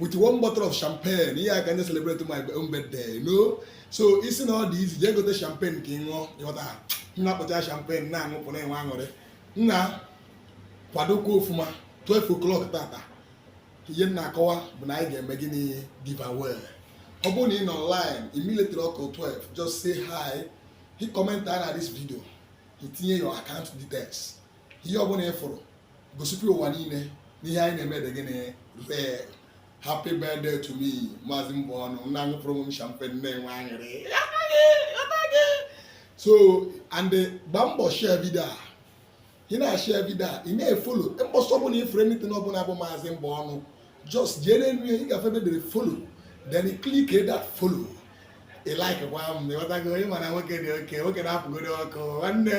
with one bottle of champagne ihe aka nye celebrate my own birthday no so ị sị na ọ dị easy jee gote champagne ka ị ṅụọ ịghọta nna kpọcha champagne na-aṅụ pụrụ enwe aṅụrị nna kwadokwa ofuma 12 o'clock tata ihe m na-akọwa bụ na anyị ga-eme gịnị giveaway ọ bụrụ na ị nọ online immediately ọ kụọ 12 just say hi hit comment under this video i tinye your account details ihe ọ bụla ị fụrụ gosikwa ụwa niile na ihe anyị na-eme dị gịnị real happy birthday to me maazị mbụ ọnụ nna anyị pụrụ m champagne na-enwe aṅụrị so and gba mbọ share vidio a ị na-ashare vidio a ị na-efolo mbọsị ọbụla ị fụrụ anything ọbụla bụ maazị mbụ ọnụ just jee n'elu ya ị ga-afụ ebe e dere follow then click that follow ị like gwa m na ịghọtago ịma na nwoke dị okay nwoke na-apụgoro ọkụ nwanne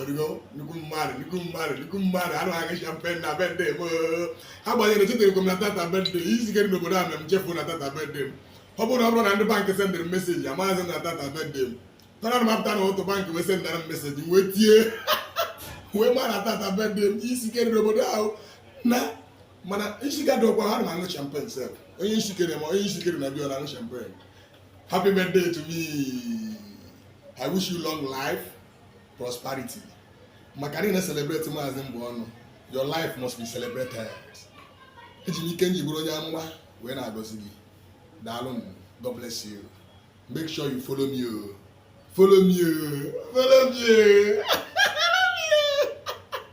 origo nnukwu mmadụ nnukwu mmadụ nnukwu mmadụ anụ aga champagne na birthday m agbanyeghị na echeterọkwa m na tata bụ birthday izigere n'obodo a na m chefuru na tata bụ birthday m ọ bụrụ na ọ bụrọ na ndị bankị sendịrị m meseji amaghịzi na tata bụ birthday m tara na mapụta na otu bankị wee sendara m meseji wee tie wee ma na tata bụ birthday m isikere n'obodo ahụ na mana nshikadokwa ha na aṅụ champagne sef onye nshikere ma onye nshikere na biọ na aṅụ champagne Happy birthday to me. I wish you long life, prosperity. Maka na ị na-celebrate maazị mbụ ọnụ, your life must be celebrated. Eji m ike m ji bụrụ onye amụma wee na-agọzi gị. Daalụ m. God bless you. Make sure you follow me. Oh. Follow me. Oh. Follow me. Oh.